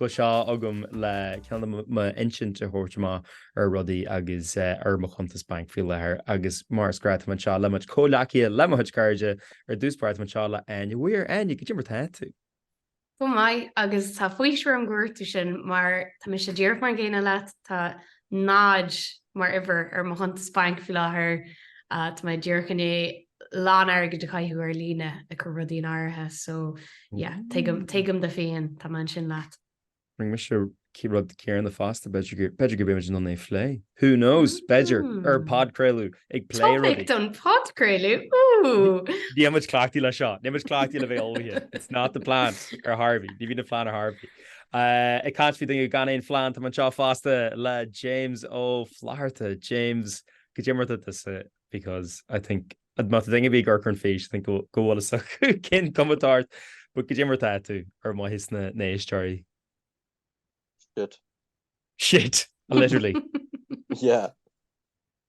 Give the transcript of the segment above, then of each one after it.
Tá sé agam le ceann de m'intinn a thabhairt amach ar rudaí agus ar mo chuntas bainc faoi láthair agus mar is gnách tá mé anseo le mo chuid comhleacaithe, le mo chuid cairde. Ar dtús báire tá mé anseo le Áine Mhaoir. Áine, cad é mar tá tú? Go maith agus tá faoiseamh orm gur dhúirt tú sin mar tá mise díreach mar an gcéanna leat, tá 0 mar uimhir ar mo chuntas bainc faoi láthair, tá mé díreach i ndiaidh lán airgid a chaitheamh ar líne ag cur rudaí in áirithe so yeah tuigim tuigim do phian tá mé ansin leat. Rinne mise an rud céanna fosta b'fhéidir go b'fhéidir go mbeimid in ann é a phlé. Who knows? B'fhéidir ar podchraoladh ag plé rudaí. Topic don podchraoladh! Ooh! Níl muid cleachtaithe le seo. Níl muid cleachtaithe le bheith ullmhaithe. It's not the plan ar chor ar bith. Ní bhíonn an plean ar chor ar bith. Ag caint faoi daoine gan aon phlean tá mé anseo fosta le James Ó Flatharta. James, cad é mar tá because I think má tá daoine a bhí ag amharc ar an fhís think go bhfuil a fhios acu cén chuma atá ort but cad é mar tá tú ar mhaithe leis na héisteoirí. Shit. Shit. Literally. yeah.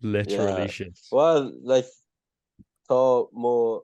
Literally yeah. shit. Well, like, tá mo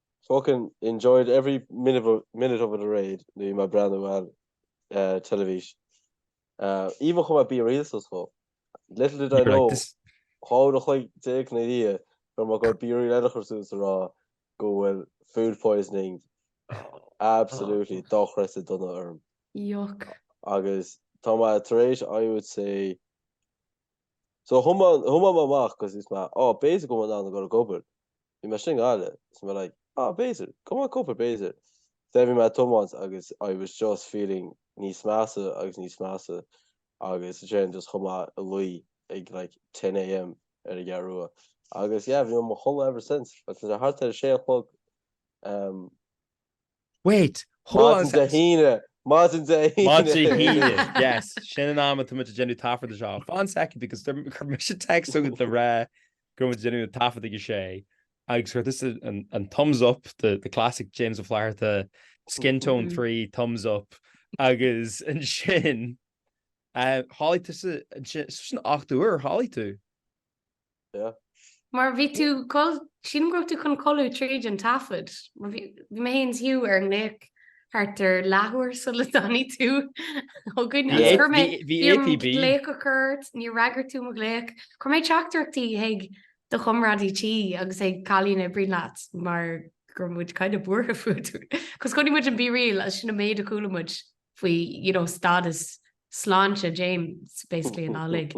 Fucking enjoyed every minute of it alright nuair a bhí mé ag breathnú ar teilifís íomhá chomh maith BeReal suas cool. Little did I know dhá uair a chloig déag ina dhiaidh go mbeadh BeReal eile curtha suas a rá go bhfuil food poisoning absolutely dochreidte dona orm. Yuck. Agus tá mé tar éis I would say So thiomáin mé amach cos is mé, oh, b'fhéidir go mbeinn in ann a ghoil ag obair. Bhí mé istigh i nGaillimh. So mé like, ah, b'fhéidir go mbeinn ag obair b'fhéidir. There bhí mé ag tiomáint agus I was just feeling níos measa agus níos measa agus ansin just chuaigh mé a luí ag like ten AM ar an gCeathrú Rua. Agus yeah, bhí mé i mo chodladh ever since agus tá sé thart ar a sé a chlog. Wait, how was Maidin Dé hAoine! Maidin Dé hAoine! Maidin Dé hAoine, yes. Sin an am atá muid ag déanamh an taifeadta seo. Fan second, because chuir mise text chugat le rá go raibh muid ag déanamh taifead ag a sé agus chuir tusa an thumbs up, the classic James Ó Flatharta, skin tone three, thumbs up, agus ansin, chodail tusa ansin, so sin ocht uair a chodail tú? Mar bhí tú, sílim go raibh tú chun codladh tríd an taifead. Bhí mé féin is Hugh ar an nglaoch thart ar leathuair sula dtáinig tú chugainn. Bhí orm glaoch a chur ort, níor fhreagair tú mo ghlaoch. Chuir mé teachtaireachtaí chuig do chomrádaí tí agus chuig cailín a oibríonn leat mar go raibh muid kind of buartha fút. Cos chonaic muid an BeReal agus sin an méid a chuala muid faoi you know stádas sláinte James basically an amhlaidh.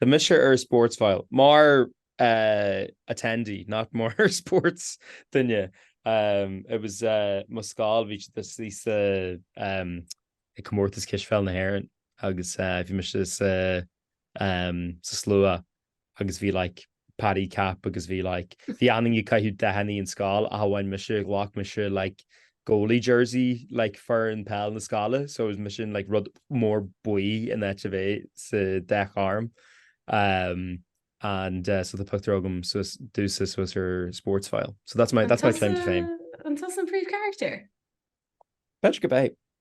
Tá mise ar sports file, mar attendee, not mar sports duine. It was mo scoil, bhí siad istigh sa comórtas cispheil na hÉireann agus bhí mise sa sa slua agus bhí like paddy cap agus bhí like bhí achan duine ag caitheamh dathanna an scoil ach amháin mise ghlac mise like goalie jersey like foireann peil na scoile so it was mise an like rud mór buí in áit a bheith sa dath ghorm um and uh so tá pictiúr agam so tá sé suas ar sports file so that's my that's my claim to fame. An tusa an príomhcharactair? B'fhéidir go mbeidh.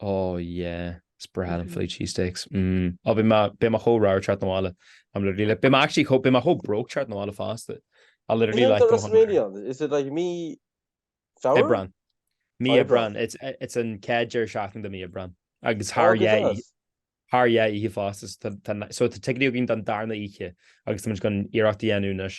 Oh yeah. It's bread and Philly cheese steaks. Mmm. Oh beidh mé, beidh mé chomh ramhar teacht na bhaile. I'm literally like, beidh mé actually chomh, beidh mé chomh broke teacht na bhaile fosta. I literally Cén like go WrestleMania? Is it like mí Feabhra? Aibreán. Mí Aibreán. Aibreán. It's, it's an chéad deireadh seachtaine de mí Aibreán. Agus thar Oh, go yeah, deas. thar dhá oíche fosta. So tá, tá, so tá ticéidí againn don darna oíche agus tá muid chun iarracht a dhéanamh anois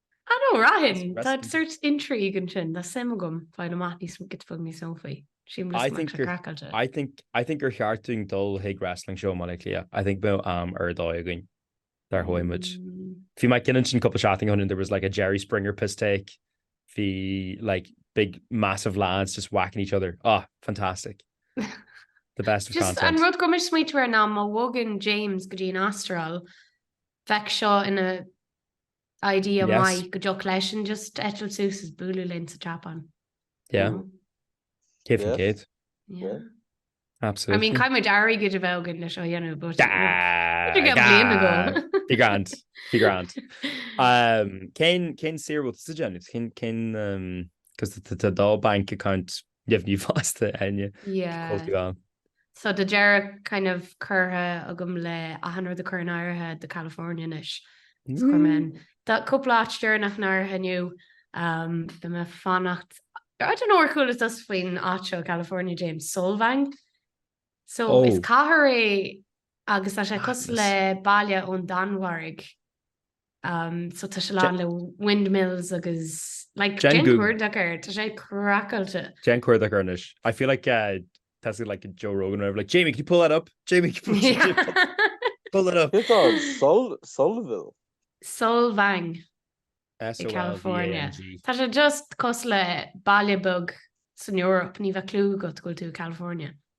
An uair sin, tá sórt intrigue ansin, tá suim agam fáil amach níos mó, cad é the fuck me some faoi. See an bhfuil muid craiceáilte. I think, I think gur cheart dúinn dul chuig wrestling show i mBaile Átha Cliath. I think bheadh am ar dóigh againn dá rachadh muid. Bhí mé ag ceann ansin cúpla seachtain ó shoin and there was like a Jerry Springer piss take. Bhí like big massive lads just whacking each other. Ah, fantastic. The best of content. Just an rud go raibh muid smaointiú air ná má bhogann James go dtí an Astráil, bheadh seo ina idea yes. maith go dtiocfadh leis just eitilt suas is bualadh linn sa Japan. Yeah. Mm. Céad faoin chéad. Yeah. Absolutely. I mean, caithfidh muid airí go de bheith gan leis seo a dhéanamh go Bhí grand Bhí grand. Cén cén sirúil sa déanamh cin cin cos tá dhá bank account deimhní fosta an-chultúr ann. So tá deireadh kind of curtha agam le achan rud a chur in áirithe do California anois. Oh man. Tá cúpla áit deireanach in áirithe inniu um, tá mé ag fanacht I don't know ar chuala tusa faoin áit seo i California James Solvang. So oh. is cathair é Agus tá sé cosúil le baile ón Danmhairg. So tá sé lán le windmills agus like Déan cuardach air, tá sé craiceáilte. Déan cuardach air anois. I feel like uh, tá sé like Joe Rogan or like Jamie, can you pull that up? Jamie, can you pull, yeah. pull that up? It's on Sol Solville. Solvang. S O L V A N G. Tá sé just cosúil le baile beag san Eoraip, ní bheadh clue agat go bhfuil tú i California.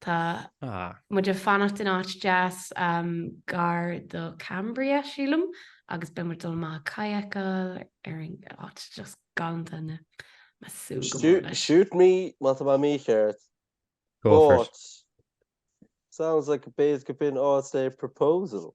Tá muid ag fanacht in áit deas gar do Cambria sílim agus beidh muid dul amach kayakáil ar an áit just galánta na me sú. Shoot me má tá mé mícheart. Go. Sounds like a base go bin all say proposal.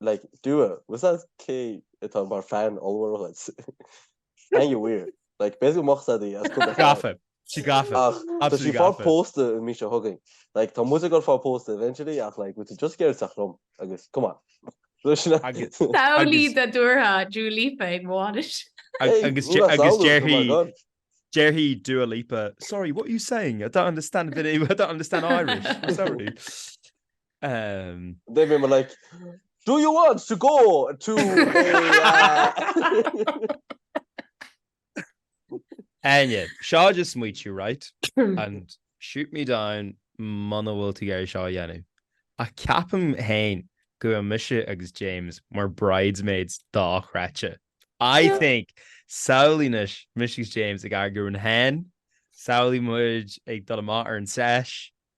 like dua was that cé atá mar fan ollmhór dhuit ainge mhaoir like basically moch said í as cúpla gafa sí gafa ach tá sí ag fáil pósta an mí seo chugainn like tá muid ag fáil pósta eventually ach like muid just géar teach lom agus come on samhlaigh de dúrtha Dua Lipa ag mo bhainis agus déarfaidh déarfaidh Dua Lipa sorry what you saying I don't understand I don't understand Irish sorry Umm. They were like, Do you want to go to a. Áine, seo smaointiú, right? And shoot me down muna bhfuil tú ag iarraidh seo a dhéanamh. Ach ceapaim féin go bhfuil mise agus James mar bridesmaids dochreidte. I think samhlaímse mise agus James ag eagrú an hen, samhlaím muid ag dul amach ar an sesh,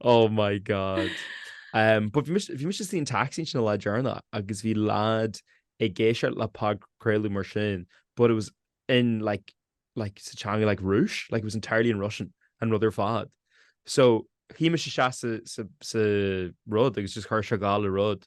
Oh my God. Um, but bhí mise sa taxi sin le déanaí agus bhí lad ag éisteacht le podchraoladh mar sin, but it was in like, like sa teanga like Rúis, like it was entirely in Russian an rud ar fad. So, shuí mise isteach sa rud agus just chuir sé gal le rud.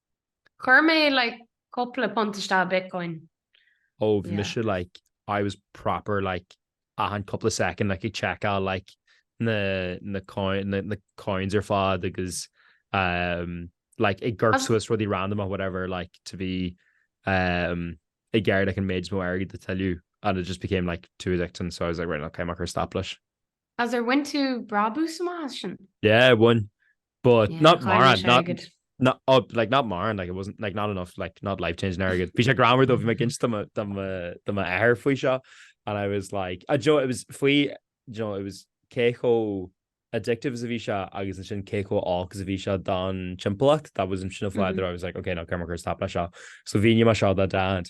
Chuir mé like cupla punt isteach Bitcoin. Óibh mise like I was proper like achan cupla second like ag checkáil like na na na coins ar fad agus um like ag gort suas rudí random or whatever like to be um ag gearr like an méid is mó airgid a tuilleadh and it just became like too addicting so I was like right okay mar chur stop leis. Ach ar bhain tú brabach amach as sin? Yeah, I won. But yeah, not mórán, not, not, not, oh, like, not mórán, like, it wasn't, like, not enough, like, not life-changing airgead. Bhí sé greannmhar though, bhí mé ag insint do m'athair faoi seo, and I was like, you know, it was faoi, you know, it was cé chomh addictive is a bhí seo agus ansin cé chomh olc is a bhí seo don timpeallacht, that was an sin fáidir, mm-hmm. I was like, okay, no, cuirfidh mé stop leis seo. So bhí mar seo dá dad.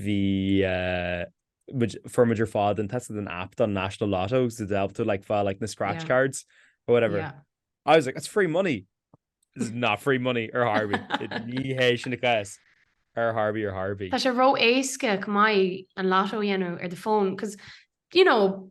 Bhí muid formid ar fád an test an app don National Lotto, so they'll have to like fáil like na scratch yeah. cards or whatever. Yeah. I was like, it's free money. This is not free money ar chor ar bith. Ní hé sin an cás ar chor ar bith, ar chor ar bith. Tá sé ró-éasca go maiid an lotto a dhéanamh ar do fón, cos you know,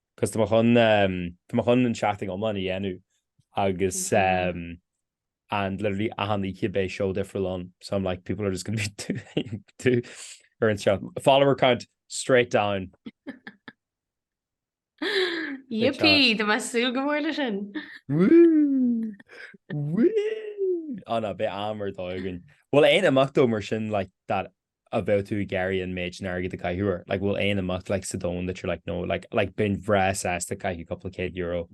'cos tá mé chun, tá mé chun an seachtain iomlán a dhéanamh agus and literally achan oíche beidh seó difriúil ann, so I'm like people are just gonna be ar an seo. Follower count straight down. Yippee, tá mé ag súil go mór leis sin! Woo! Woo! Á ná beidh am ar dóigh againn. Bhfuil aon imeacht ó mar sin like that a bheadh tú ag iarraidh an méid sin airgid a chaitheamh air? Like, bhfuil aon imeacht like sa domhan that you're like no, like, like bheinn breá sásta caitheamh cúpla céad euro.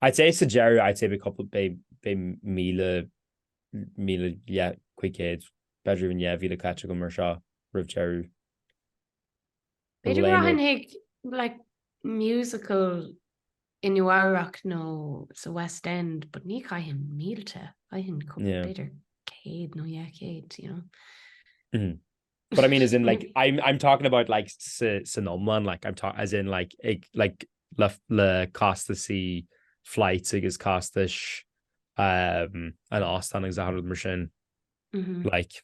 I'd say sa deireadh I'd say beidh cúpla, beidh, beidh míle, míle, yeah, cúig céad, b'fhéidir even dhá mhíle caite agam ar seo roimh deireadh. B'fhéidir go raibh aon rud ag like musical i Nua-Eabhrac nó sa West End, but ní chaitheann mílte, caitheann yeah, b'fhéidir céad nó dhá chéad you know? mm -hmm. But I mean as in like I'm I'm talking about like san iomlán like I'm talking as in like ag, like le le costaisí flights agus costais um, an óstáin agus araile mar sin mm-hmm. like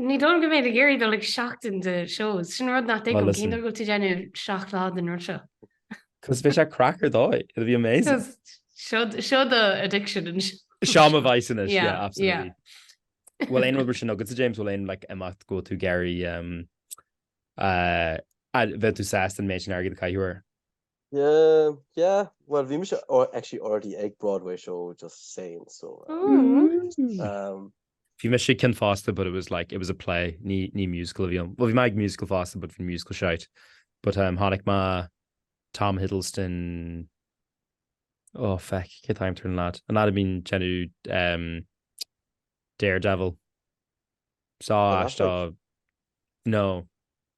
Ní dóigh liom go mbeinn ag iarraidh dul chuig seachtain de shows. Sin an rud nach dtuigim, cén dóigh go bhfuil tú ag déanamh seacht lá den rud seo? Cos beidh sé craic ar dóigh, it'll be amazing. Cos seo do addiction anseo. Seo mo vice anois, yeah, absolutely. Bhfuil aon rud mar sin agat, James, bhfuil aon like, imeacht go bhfuil tú ag iarraidh um, uh, mbeadh tú sásta an méid sin airgid a chaitheamh air? Yeah, yeah. Well, we must actually already egg Broadway show just saying so. Mm. Um, Bhí me sé cin fásta, but it was like it was a play ní ní musical bhí an bhí meid musical fásta, but bhí musical seit, but um, hánig má Tom Hiddleston ó oh, feic cé time turn lad an a mín genú um, Daredevil sá no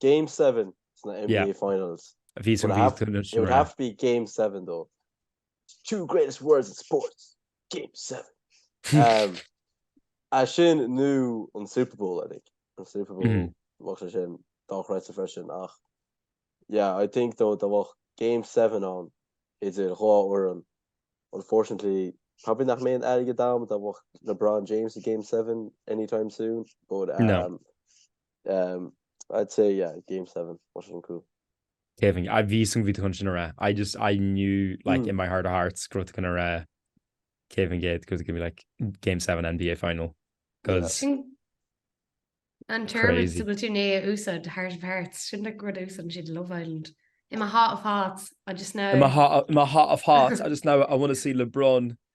Game seven sna NBA Yeah. finals. A bhí It would an have, bhíotar it would have to be game seven though. The two greatest words in sports. Game seven. um, é sin nó an Super Bowl I think. An Super Bowl Mhm. bheadh sé sin dochreidte freisin ach yeah I think though dá mbeadh game seven ann idir dhá fhoireann unfortunately probably nach mbeidh, an ceann go mbeadh LeBron James i game seven anytime soon but um, No. Um, I'd say, yeah, game seven, Washington Crew. Kevin, I bhí san bhí chun sin a I just, I knew, like, mm. in my heart of hearts, growth gan a Kevin Gate, growth going to be like game seven NBA final. Because... Yeah. An term is go tú né úsad heart of hearts, sin na grud úsan siad Love Island. In my heart of hearts, I just know. In my heart, in my heart of hearts, I just know I want to see LeBron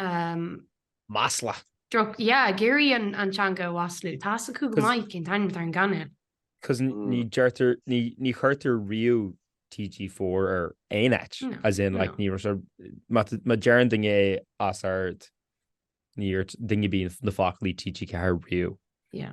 Um. Masla. Droch, yeah, ag iarraidh an, an teanga a mhaslú. Tá's acu go maith cén t-ainm atá ar an gcainéal. Cos ní deirtear, ní, ní chuirtear riamh TG four ar aon áit. No, As in, like, no. ní raibh sé, má, má deireann duine é os ard, ní dúirt duine ar bith na foclaí TG4 riamh. Yeah.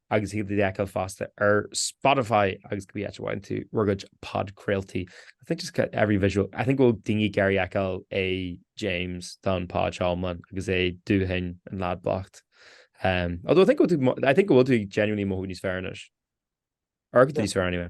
agus é a fheiceáil fosta ar Spotify agus cibé áit a bhfaigheann tú do chuid podchraoltaí. I think just got every visual. I think go bhfuil daoine ag iarraidh feiceáil é James don pod seo iomlán agus é dóite, an leaid bocht. Um, although I think go bhfuil tú mo- I think go bhfuil tú genuinely ag mothú níos fearr anois. Ar go dtí níos fearr anyway.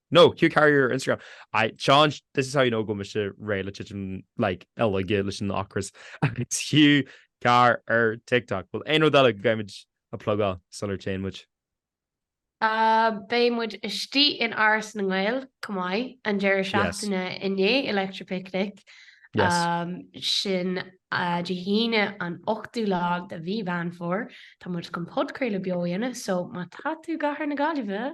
Nó Hugh Carr ar Instagram. I can't, this is how you know go mise réidh le titim, like, i laige leis an ocras. Agus Hugh Carr ar TikTok. Bhfuil aon rud eile go gcaithfimid a plugáil sular téann muid? Ah, beidh muid istigh in Áras na nGael, chomh maith an deireadh Yes. seachtaine i ndiaidh Electric Picnic. Yes. Um, sin uh, Dé hAoine an 8ú lá de mhí Mheán Fómhair. Tá muid chun podchraoladh beo a dhéanamh, so má tá tú i gcathair na Gaillimhe,